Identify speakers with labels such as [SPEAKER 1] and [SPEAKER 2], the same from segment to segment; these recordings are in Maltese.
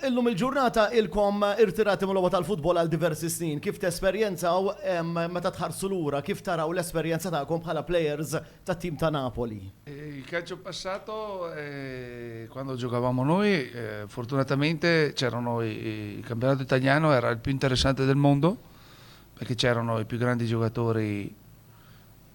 [SPEAKER 1] Illum il-ġurnata ilkom irtirati mil-logħba tal-futbol għal diversi snin. Kif tesperjenzaw meta tħarsu lura? Kif taraw l-esperjenza tagħkom bħala players tat-tim ta' Napoli? Il calcio passato quando giocavamo noi fortunatamente c'erano il campionato italiano era il più interessante del mondo perché c'erano i più grandi giocatori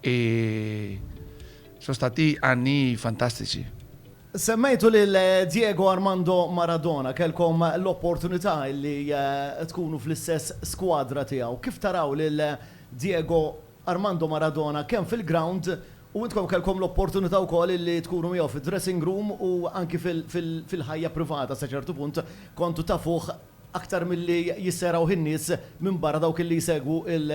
[SPEAKER 1] E sono stati anni fantastici. Semmejtu lil Diego Armando Maradona, kellkom l-opportunità li tkunu fl-istess skwadra tiegħu. Kif taraw lil Diego Armando Maradona kemm fil-grawnd u intkom kellkom l-opportunità wkoll li tkunu miegħu fid-dressing room u anki fil-ħajja privata sa ċertu punt kontu tafuh aktar milli jissejrawh in-nies minn barra dawk li jsegwu l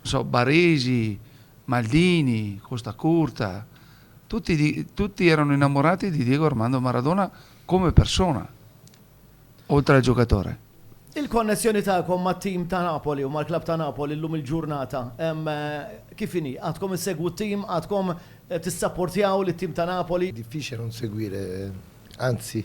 [SPEAKER 1] So Baresi, Maldini, Costa Curta, tutti, tutti erano innamorati di Diego Armando Maradona come persona, oltre al giocatore. Il-konnessjoni tagħkom mat-tim ta' Napoli u mal-klabb ta' Napoli llum il-ġurnata kif inhi? Għadkom issegwu t-tim, għadkom tissapportjaw lit-tim ta' Napoli? Diffiċli non seguire, anzi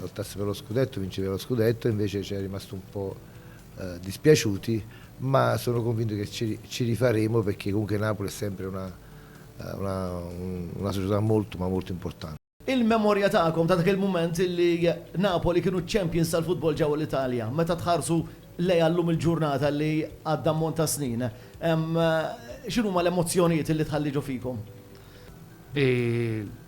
[SPEAKER 1] Lottassero lo scudetto, vincere lo scudetto, invece cioè è rimasto un po' dispiaciuti, ma sono convinto che ci, ci rifaremo perché comunque Napoli è sempre una, una, una società molto ma molto importante. Il-memorja tagħkom ta' dak il-mument illi Napoli kienu ċ-champions tal-futbol ġewwa l-Italja, meta tħarsu lejha llum il-ġurnata li għadda ammont ta' snin, x'inhuma l-emozzjonijiet illi tħalli ġo fikom?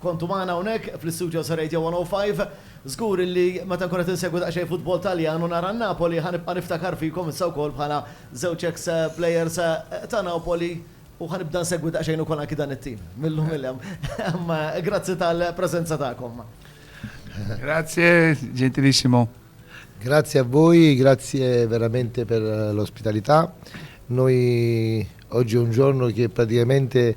[SPEAKER 1] Kontu magħna hawnhekk fl-istudios ta' Radio 105. Żgur illi meta nkun qed insegwi daqsxejn futbol Taljan u nara n-Napoli ħa nibqa' niftakar fikom issa wkoll bħala żewġ eks plejers ta' Napoli u ħa nibda nsegwi daqsxejn ukoll anki dan it-tim mil-lum il-hemm. Imma grazzi tal-preżenza tagħkom. Grazie gentilissimo. Grazie a voi, grazie veramente per l'ospitalità. Noi oggi è un giorno che praticamente